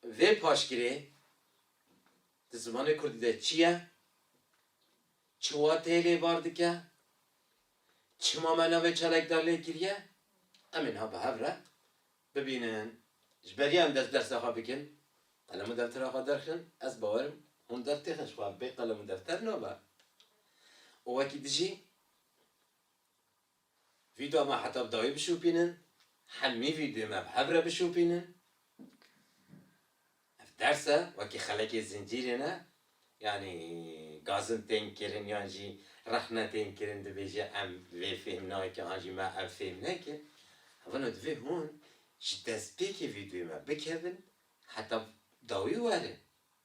Bi vê paşgirê di zimanê kurdî de çi ye, çi wateyê lê bar dike, çima me navê çalakdar lê kiriye, em ê niha bi hev re bibînin. Ji ber yan dest dersa xwe bikin, qelem û deftera xwe derxin, ez bawer im hûn dertêxin ji xwe ev bê qelem û defter nabe û wekî dijî. Vîda me heta bi dawî bişopînin, hemî vîdyoyê me bi hev re bişopînin. Ev ders e, wekî xelekê zincîrê ne, yanî gazin tên kirin yan jî rexne tên kirin dibêje em vê fêm nakin an jî me ev fêm nekin. Hevano divê hûn ji destpêkê vîdyoyê me bikevin heta bi dawî werin.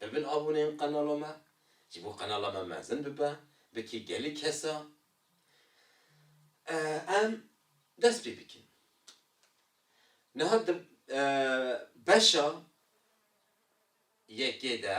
Bibin abone yên qenala me, ji bo qenala me mezin bibe, bike gelê kesa em dest pê bikin. Niha di beşa yekê de.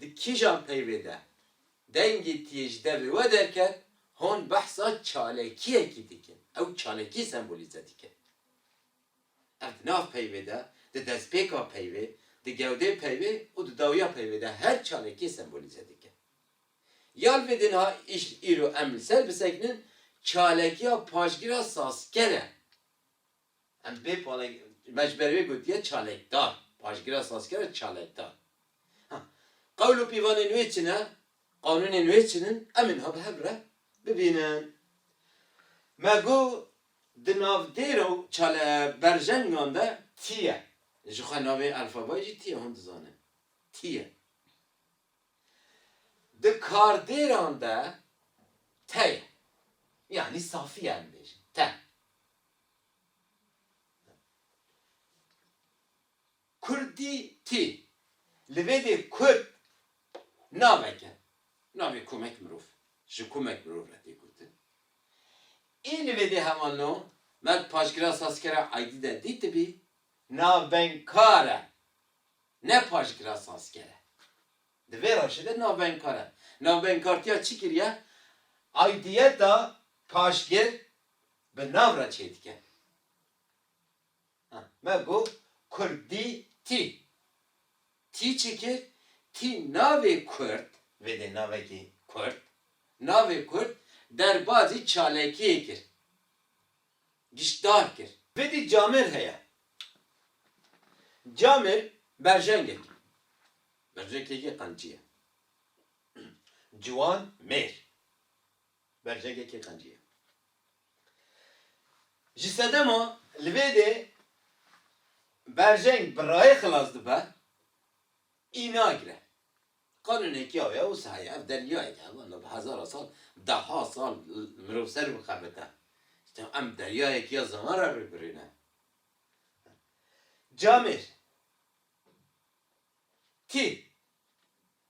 Di kîjan peyvê de dengê tiyêj devê we derket, hon behsa çalekiyekî dikin, ew çalekî sembolîze dikin. Ev di nav peyvê de, di destpêka peyvê, di gewdê peyvê û di dawiya peyvê de her çalekiyê sembolîze dikin. Ya li vê din ha îş îro em li ser bisekinin, çalekiya paşgira sazken e. Em bê palek, me ji ber wê gotiye çalekdar, paşgira sazkera çalekdar. Ha, qewl û pîvanên wê çi ne, qanûnên wê çi nin, em niha bi hev re bibînin. Me got di navdêra û çale berjengan de tî ye. Ji xwe navê elfabayê jî tî ye, hûn dizanin tî ye. Di kardêran de te ye. Yanî safî ye em dibêjin, te. Kurdî tî. Li vê dê kurd navek e. Navê komek mirov. Ji komek mirov re tê gotin. Ê li vê dê heman no me di paşgira Sazkera Aydî de dîtibî, navbenkar e. Ne paşgira sazker e. Di vê rewşê de navbenkar e. Navbenkartiya çi kiriye? Aydiyeta paşgir Bi nav re çê dike. Ha, me got kurdî tî. Tî çi kir? Tî navê kurd, vê dê navekî kurd, navê kurd derbazî çalekiyê kir. Giştdar kir. Vidî camêr heye. Camêr berjengek. Berjengekî qencî ye. Ciwan mêr. Berjegê kê qencî ye. Ji sedema li vê dê berjeng bi rayê xilas dibe, î nagire. Qanûnekî ew ye û sahayê ev deryayek e, wenda bi hezara sal, deha sal mirov ser bixebite. Îta em deryayekî ya ziman re rûbirû ne. Camêr, tî.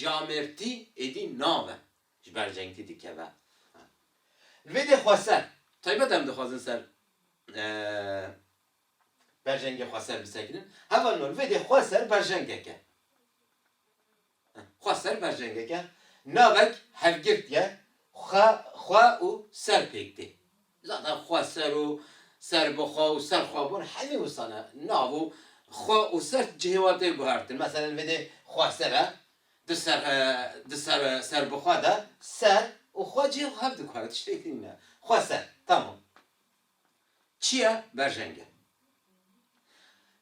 Camêrtî êdî nabe ji ber cengtî dikeve. Li vê dê xweser, taybet em dixwazin ser berjengê xweser bisekinin, heva no li vê dê xweser berjengek e. Xweser berjengek e, navek hevgirtiye xwe û ser pêk tê. Zaten xweser û serbixwe û serxwebûn hemî wisa ne. Nav û xwe û ser ti cihê wan tê guhertin. Meselen vêdê xweser e, di ser di ser serbixwe de ser û xwe cihê xwe hev diguhere. Tiştêk din nîne. Xweser. Tamam. Çi ye? Berjeng e.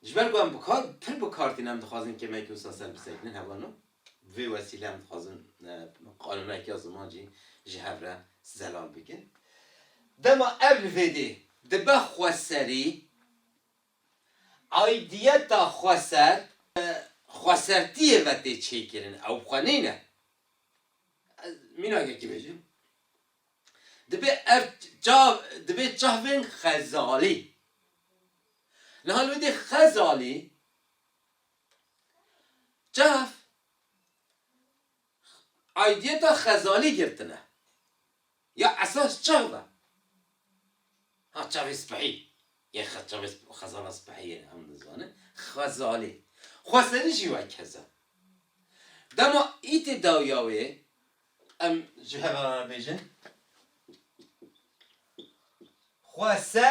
Ji ber ku em bi kar pir bi kar tînin em dixwazin kêmeyekî wisa ser bisekinin, hebûna no. Bi vê wesîle em dixwazin qanûnekiya ziman jî ji hev re zelal bikin. Dema ev li vê dê dibe xweserî, aîdiyeta xweser bi xwesertiyê ve tê çêkirin, ew bi xwe nîne. Ez mînakekî bêjim, dibê ev çav, dibê çavên xezalî. Niha li vê dê xezalî Çav aidiyeta xezanî girtin e. Ya esas çav e. Ha çavê spehî yê çavê xezana spehî yê em dizanin xezalî. Xweserî jî wek hez e. Dema îtî dawiya wê em ji hev re re bêjin xwese.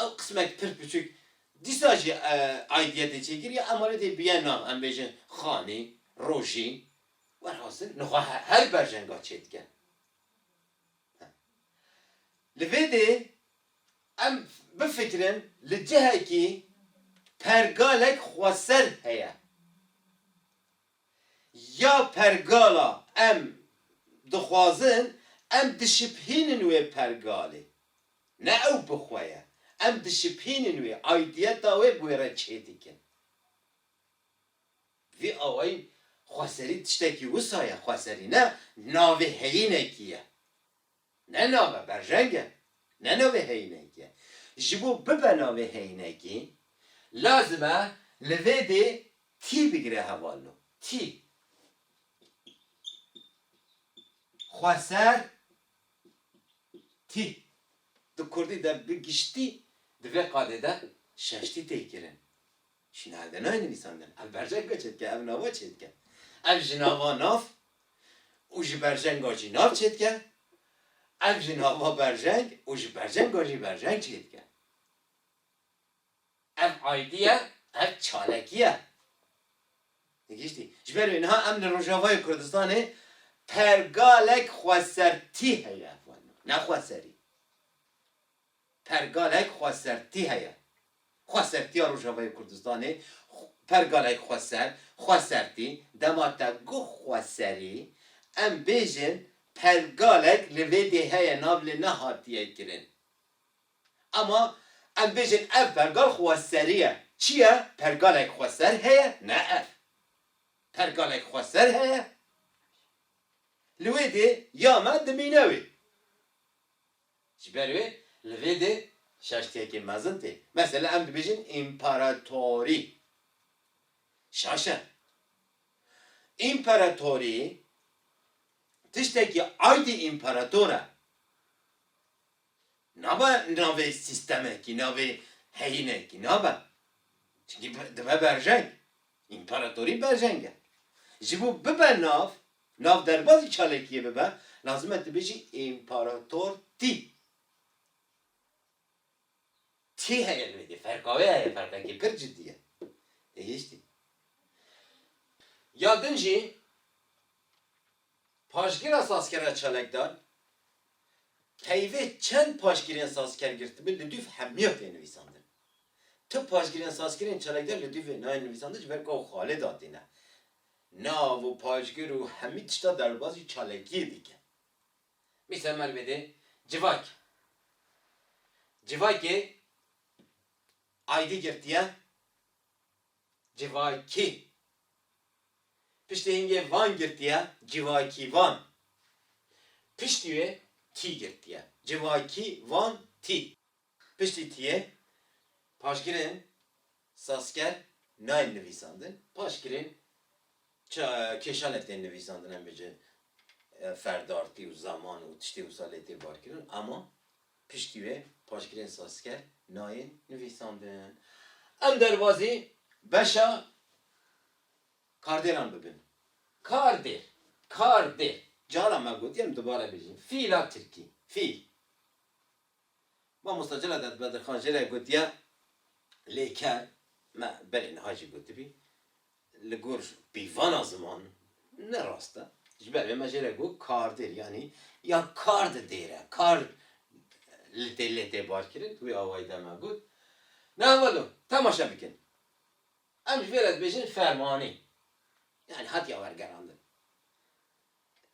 Ew qismek pir piçik dîsa jî aydiya tê çêkirî em alê dê bîye nav em bêjin xanî, rojî. Welhasil nixwe her berjenga çêdike. Li vê dê em bifikirin li cihekî pergalek xweser heye. Ya pergala em dixwazin em dişipînin wê pergalê. Ne ew bi xwe ye. Em dişipînin wê, aidiyeta wê bi wê re çê dikin. Bi vî awayî xweserî tiştekî wisa ye, xweserî ne navê heyînekî ye. Ne nav e, berjeng e. Ne navê heyînekî ye. Ji bo bibe navê heyînekî, lazim e li vê dê tî bigire hevalno. Tî. Xweser Tî, di kurdî de bi giştî di vê qadê de şeş tî tê kirin. Ji nal de nayê nivîsandin. Ev berjeng be çêdike, ev nava çêdike. Ev ji nava nav û ji berjenga jî nav çêdike, ev ji nava berjeng û ji berjenga jî berjeng çêdike. Ev aîdiye, ev çalekî ye. Gihîştî. Ji ber wê niha em li Rojavayê Kurdistanê pergalek xwesertî heye. Ne xweserî. Pergalek xwesertî heye. Xwesertiya Rojavayê Kurdistanê, pergalek xweser, xwesertî, dema te goh xweserî, em bêjin pergalek li vê dê heye nav li nehatiye kirin. Ama em bêjin ev pergal xweserî ye. Çi ye? Pergalek xweser heye? Ne ev. Pergalek xweser heye. Li wê dê ya me dimîne wê. Ji ber wê li vê dê şaştiyekê mezin tê. Mesela em dibêjin împaratorî. Şaş e. Împaratorî tiştekî aydî împarator e. Nabe navê sîstemekî, navê heyînekî nabe. Çinkî dibe berjeng. Împaratorî berjeng e. Ji bo bibe nav, nav derbazî çalakiyê bibe, lazim e tu bêjî împarator tî. Tî heye li wê dê. Ferka wê heye, ferqekî pir cidî ye. Tê gihîştî. Ya din jî Paşgîra sazkera çalakdar, Peyvê çend paşgîrên sazker girtibû li dûv hemiya tê nivîsandin. Tu paşgîrên sazkerên çalakdar li dûvê nayên nivîsandin ji ber ku ew xalê datîne. Nav û paşgir û hemî tişta derbazî çalakiyê dike. Mîsal me li vê dê civak. Civakê aydî girtiye. Civakî. Piştî hingê van girtiye civakîvan. Piştî wê tî girtiye. Civakî van tî. Piştî tîyê paşgirên sazker nayên nivîsandin. Paşgirên kêşanê tên nivîsandin em bêje ferdartî û zaman û tiştê wisa lê tê barkirin ama Piştî wê paşgirên sazker nayên nivîsandin. Em derbazî beşa kardêran bibin. Kardêr, kardêr. Cara me gotiye em dubare bijîn. Fîl a tirkî. Fîl. Mamosta Celadet Bedirxan jê re gotiye lêker. Me belê niha jî gotibî. Li gor pîvana ziman ne rast e. Ji ber vê me jê re got kardêr yanî ya kar di dêr e. Kar li tê lê tê barkirin. Wî awayî de me got Na welo temaşe bikin. Em ji vê re dibêjin fermanî. Yanî hatiye wergerandin.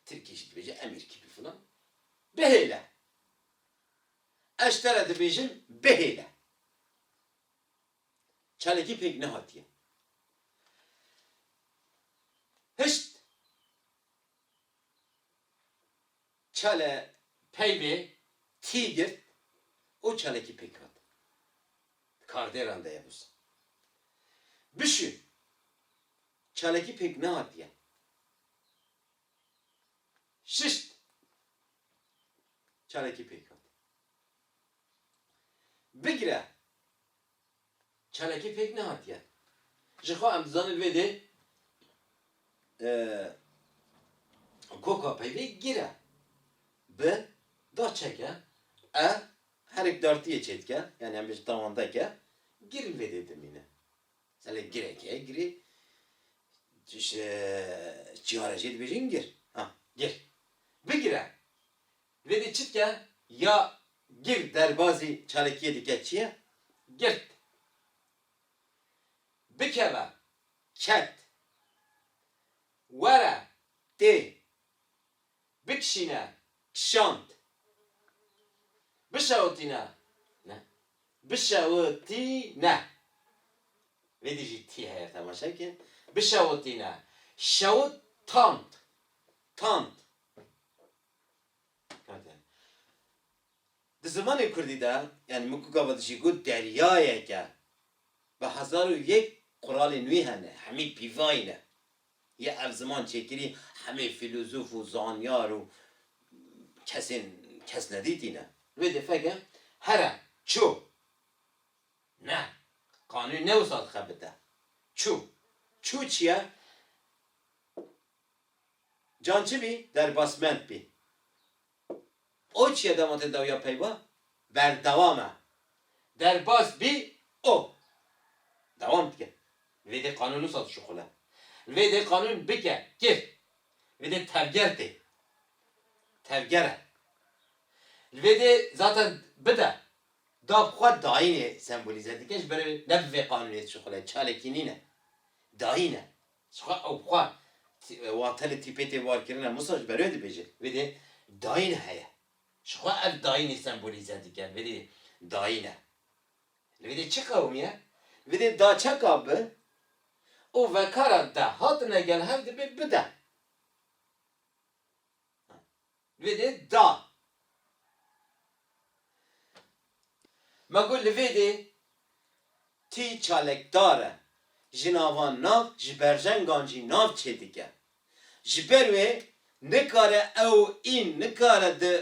Tirkî jî dibêje emîr kî bi filan. Bihêle. Ez ji te re dibêjim bihêle. çalakî pêk nehatiye. Pişt çale peyvê tî girt û çalakî pêk hat. Di kardêran de ye wisa. Bişû çalakî pêk nehatiye. Şişt çalakî pêk hat. Bigire Çalakî pêk nehatiye. Jixwe em dizanin vê dê koka peyvê gire bi da çeke e herek dartiyê çêdike yanî em bêjin tawandeke girin vê dê dimîne. Selê gireke ye girê çiyare jê dibêjin gir ha gir bigire Divê dî çi dike? Ya gir derbazî çalakiyê dike çi ye? Girt. Bikeve, ket. Were, tê. Bikişîne, kişand. Bişewitîne, ne. Bişewitîne. Vê dî jî tî heye temaşe bike. Bişewitîne, şewit, tand. Tand. Di zimanê kurdî de yanî min ku gava dijî got deryayek e. Bi hezar û yek quralên wî hene, hemî pîvayî ne. Yê ev ziman çêkirî hemî fîlozof û zanyar û kesên kesnedîtî ne. Wê dê feke here, çû. Ne, qanûn ne wisa dixebite. Çû. Çû çi ye? Can çi bî derbasmend bî. O çiye dema te dawiya peyva berdewam e. Derbas bî o. Dewam dike. Li vê dê qanûn wisa dişuxile. Li vê dê qanûn bike, kir. Li vê dê tevger tê. Tevger e. Li vê dê zaten bide. Da bi xwe dayînê sembolîze dike ji ber ne bi vê qanûnê dişuxile. Çalakî nîne. Dayîn e. Çiqas ew bi xwe wan tenê tîpê tê warkirine Musa ji ber wê dibêje vê dê dayîn heye. Ji xwe ev dayînê sembolîze dike vê dê dayîn e. Li vê dê çi qewimî ye? Li vê dê da çeka bi û vekara de hatine gel hev dibê bide. Vê dê da. Ma got li vê dê tî çalekdar e, ji navan nav, ji berjengan jî nav çêdike. Ji ber wê nikare ew în nikare di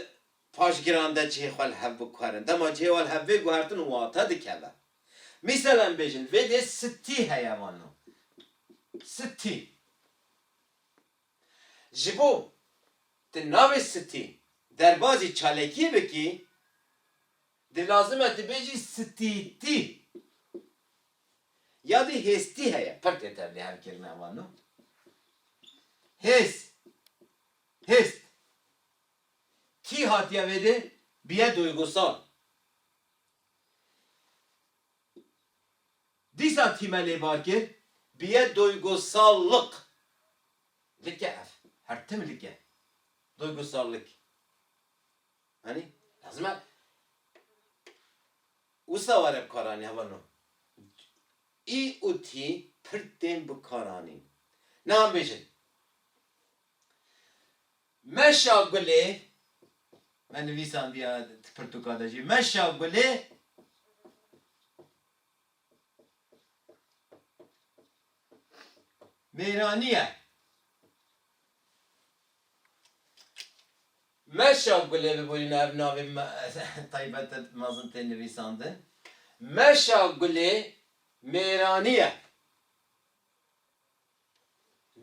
paşgiran de cihê xwe li hev biguherin. Dema cihê wan li hev bê guhertin wate dikeve. Mîsal em bêjin vê dê sittî heye vano. Sittî. Ji bo tu navê Sitî derbazî çalakiyê bikî, di lazim e tu bêjî Sitîtî. Ya dî hêstî heye, pir tê tevlî her kelîmeya wan no. Hês, hêst. Kî hatiye vêdê, biye duygusal. Dîsa tîme lêvar kir biye doygosallık like ev her tim like doygosallık hani lazım e wisa ware bikaranî heva no i û tî pir tên bikaranîn. Niha bêjin. Meşa Gulê, me nivîsandiye di pirtûka de jî, Meşa Gulê, mêranî ye. Meşa Gulê bi borîna ev navê taybet e mezin tê nivîsandin. Meşa Gulê mêranî ye.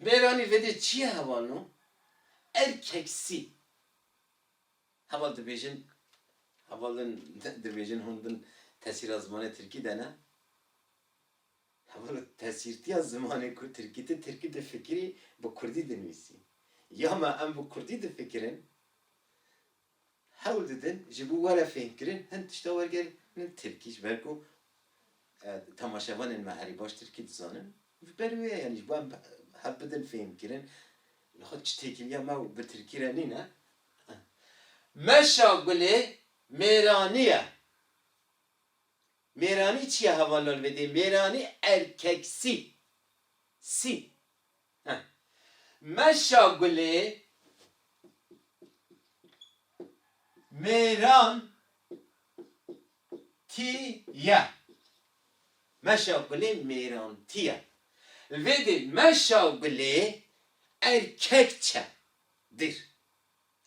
Mêranî vedê çi ye hewa no? Erkeksî. Heval dibêjin, hevalin dibêjin hûn bin tesîra zimanê tirkî de ne. Hevalo tesîrtîya zimanê ku tirkî ti tirkî difikirî bi kurdî dinivîsî. Ya me em bi kurdî difikirin. hewl didin ji bo were fêhnkirin hin tişta wergerînin tirkî ji ber ku temaşevanên me herî baş tirkî dizanin ji ber wê ye yanî ji bo em hev bidin fêhnkirin li xwe çi têkiliya me û bi tirkî re nîne. Meşa Gulê mêranî ye. Mêranî çi ye hevalal vê dê mêranî erkeksî sî. Heh. Meşa Gulê mêran tî ye. Meşa Gulê mêran tî ye. Li vê dê Meşa Gulê erkek çe. Dir.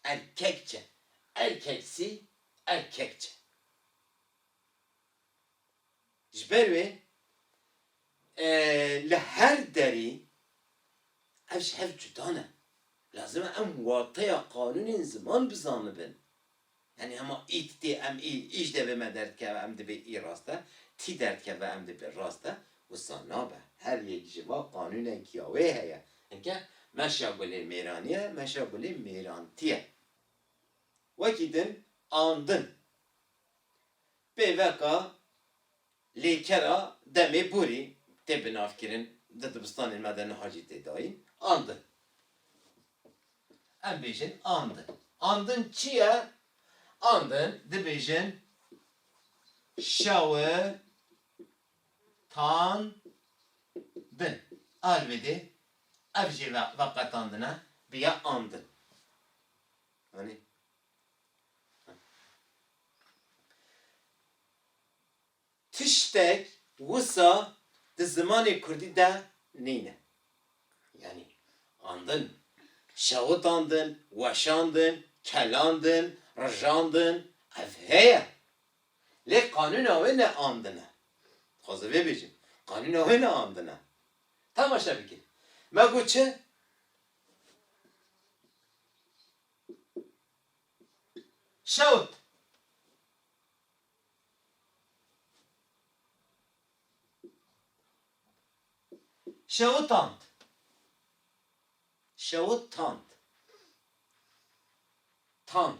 Erkek çe. Erkeksi, erkek çe. Ji ber wê li her derî ev ji hev cuda ne. Lazim e em wateya qanûnên ziman bizanibin. Yanî hema î di tê em î, î ji devê me derdikeve em dibê î rast e, tî derdikeve em dibê rast e, wisa nabe. Her yek ji va qanûnek ya wê heye. Heke meşa gulê mêranî ye, meşa gulê mêrantî ye. Wekî din andin. Pêveka lêkera demê borî tê binavkirin di dibistanên me de niha jî tê dayîn. Andin. Em bêjin andin. Andin çi ye? Andin dibêjin şewi tan din. Alwêdê ev jê veqetandine biya andin. Anî? Tiştek wisa di zimanê kurdî de nîne. Yanî andin, şewitandin, weşandin, kelandin, rijandin ev heye. Lê qanûna wê ne andin e. Dixwazim vê bêjim. Qanûna wê ne andin e. Temaşe bike. Me got çi? Şewt. Şewitand. Şewitand. Tand.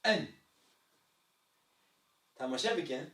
In. Temaşe bikin.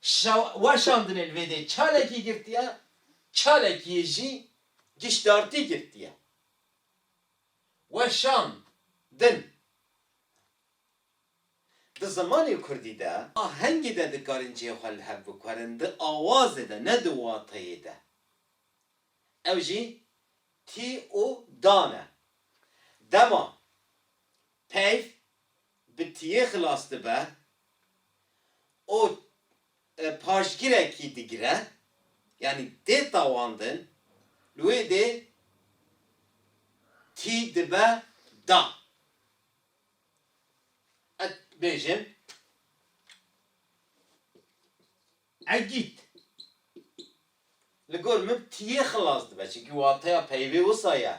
Şa weşandinê li vê dê çalekî girtiye, çalekiyê jî giştdartî girtiye. Weşand din Di zimanê kurdî de ahengê de dikarin cihê xwe li hev bikwerin, di awazê de ne di wateyê de. Ew jî tî û dan e. Dema Peyv bi tiyê xilas dibe û paşgirekî digire, yanî tê tawandin, li wê dê tî dibe da. Ez dibêjim Egîd, Li gor min tiyê xilas dibe çimkî wateya peyvê wisa ye.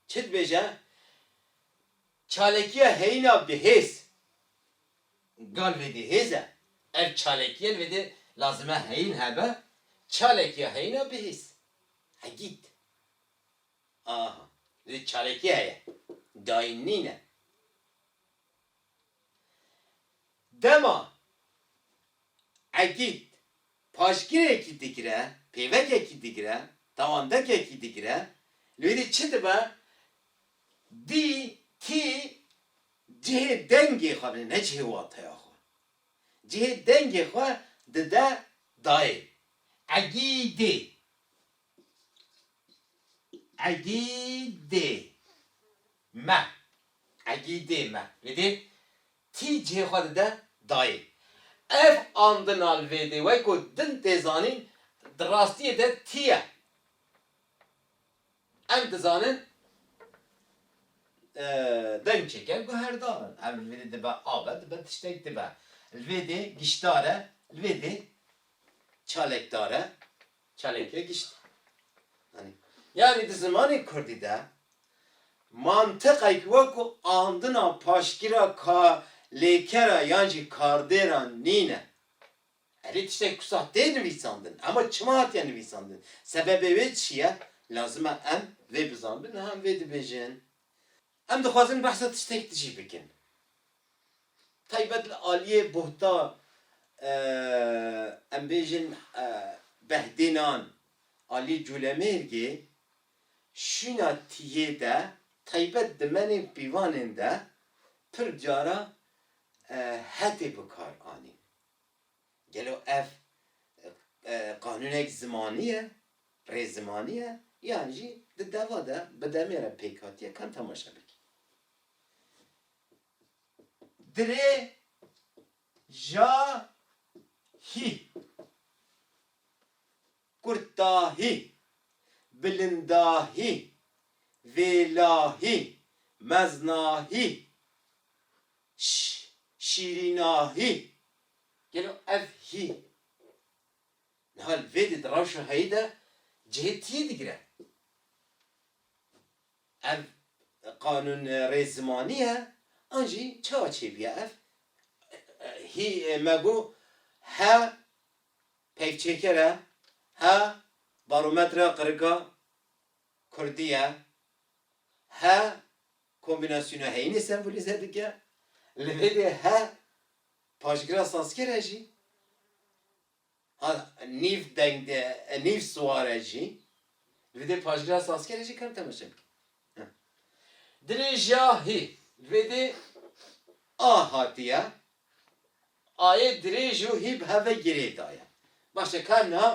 Çi dibêje? Çalekiya heyîna bihêz. Gal vêdê hêz e. Ev çalekiye li vêdê lazim e heyîn hebe, çalekiya heyîna bihêz. Egîd, Aha, li vêdê çalekî heye. Dayîn nîne. Dema Egîd paşgirêkî digire, pêvekekî digire, tawandekekî digire, li wê dî çi dibe? Dî kî cihê dengê xwe bide, ne cihê wateya xwe. Cihê dengê xwe dide dayê Egîdê. Egîdê. Me, egîdê me, li dê tî cihê xwe dide dayê. Ev andina li vê dê weko din tê zanîn di rastiyê de tî ye. Em dizanin deng çêke guherdar in. Ev li vê dê dibe av e, dibe tiştek dibe. Li vê dê giştdar e, li vê dê çalekdar e. Çalên pê giştî. Anî. Yanî di zimanê kurdî de mantiqek wekû andina paşgîra ka lêkera yan jî kardêra nîne. Erê tiştek ku sah tê nivîsandin. Ema çima hatiye nivîsandin? Sebebê wê çi ye? Lazim e em vê bizanbin niha em vê dibêjin. Em dixwazin behsa tiştek dijî bikin taybet li aliyê buhta em bêjin behdênan aliyê Colemêrgê, şûna tiyê de taybet dimenên pîvanên de pir cara hetê bikar anîn. Gelo ev qanûnek zimanî ye, rê zimanî ye yan jî di deva de bi demê re pêk hatiye kan temaşe bikî. Dirêjahî. Kurtahî, bilindahî, vêlahî, meznahî, şîrînahî. Gelo ev hî niha li vê dê di rewşa heyî de cihê tiyê digire? Ev qanûnrê zimanî ye an jî çawa çêbûye ev hî me got he Pêkçêker e, he barometra qirika kurdî ye, he kombînasyona heyînê sembolîze dike, li vê lê he paşgira sazker e jî, he nîv deng de nîv siwar e jî, li vê dê paşgira sazker e jî kar temaşe bike. Dilê jî a hî, li vê dê a hatiye. Ayê dirêj û hî bi hev ve girê daye. Baş e ka na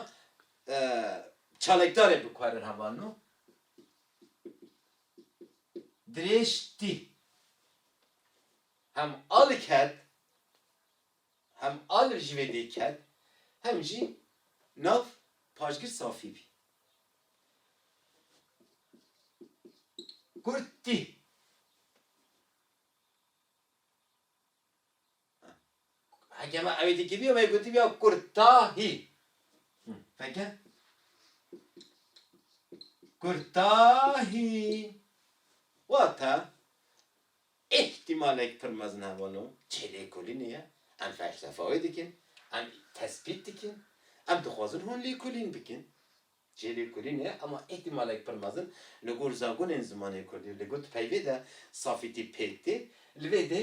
çalekdarê bikarin heval no dirêj tî hem al ket hem al ji vê dê ket hem jî nav paşgir safî bî. Kurt tî. Hekema ewê dikî bîyo me gotîbîya kurtahî. Feke. Kurtahî. Wata îhtîmalek pir mezin hevano çê lêkolînê ye. Em felsefa wê dikin. Em tespît dikin. Em dixwazin hûn lêkolîn bikin. Çê lêkolînê ye ema îhtîmalek pir mezin li gor zagonên zimanê kurdî li gor di peyvê de safîtî pêk tê. Li vê dê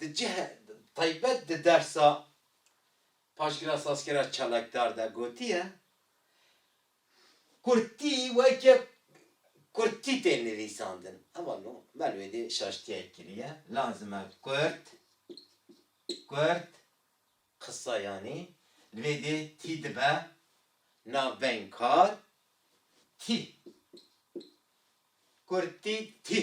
Di cihê taybet di dersa Paşgira Sazkera Çalakdar de gotiye, Kurdî weke kurdî tê nivîsandin. Eva no mel wê dê şaştiyek kiriye. Lazim e kurd, kurd qisa yanî li vê dê tî dibe navbeyên kar tî. Kurdî tî.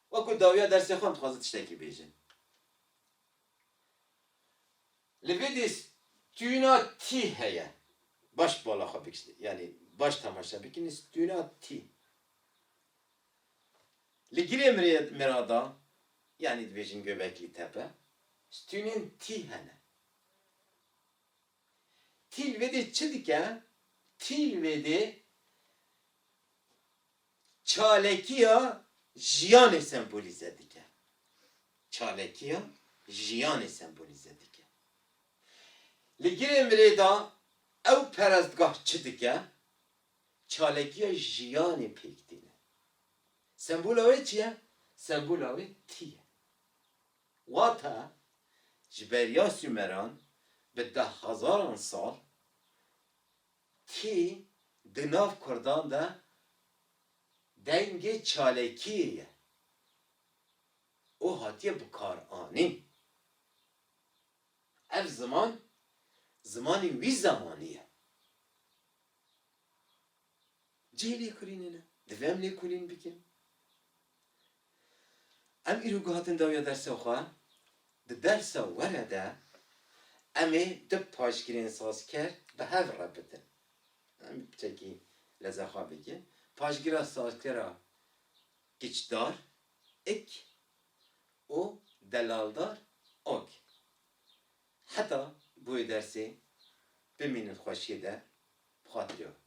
Wekû dawiya dersê xwe em dixwaze tiştekî bêjin. Li vê dîs tîna tî heye. Baş bala xwe bik yanî baş temaşe bikin tîna tî. Li girê mirada yanî dibêjin Göbekli Tepe tînên tî hene. Tî li vê dê çi dike? Tî li vê dê Çalekiya jiyanê sembolîze dike. Çalekiya jiyanê sembolîze dike. Li girê mirê de ew perestgah çi dike? Çalekiya jiyanê pêk tîne. Sembola wê çi ye? Sembola wê tî ye. Wata, ji beriya Sûmeran bi dehhezaran sal Kî di nav kurdan de dengê çalekiyê ye û hatiye bikaranîn. Ev ziman zimanê wî zemanî ye. Cihê lêkolînê ne. Divê em lêkolîn bikin. Em îro guhatin dawiya dersa xwe. Di dersa were de em ê du paşgirên sazker bi hev re bikin. Em çekî lezaxa bike. Paşgira sazkera Kiçdar, ik, û Delaldar, ok. Heta bi wê dersê bimînin xweşiyê de bi xatirê xwe.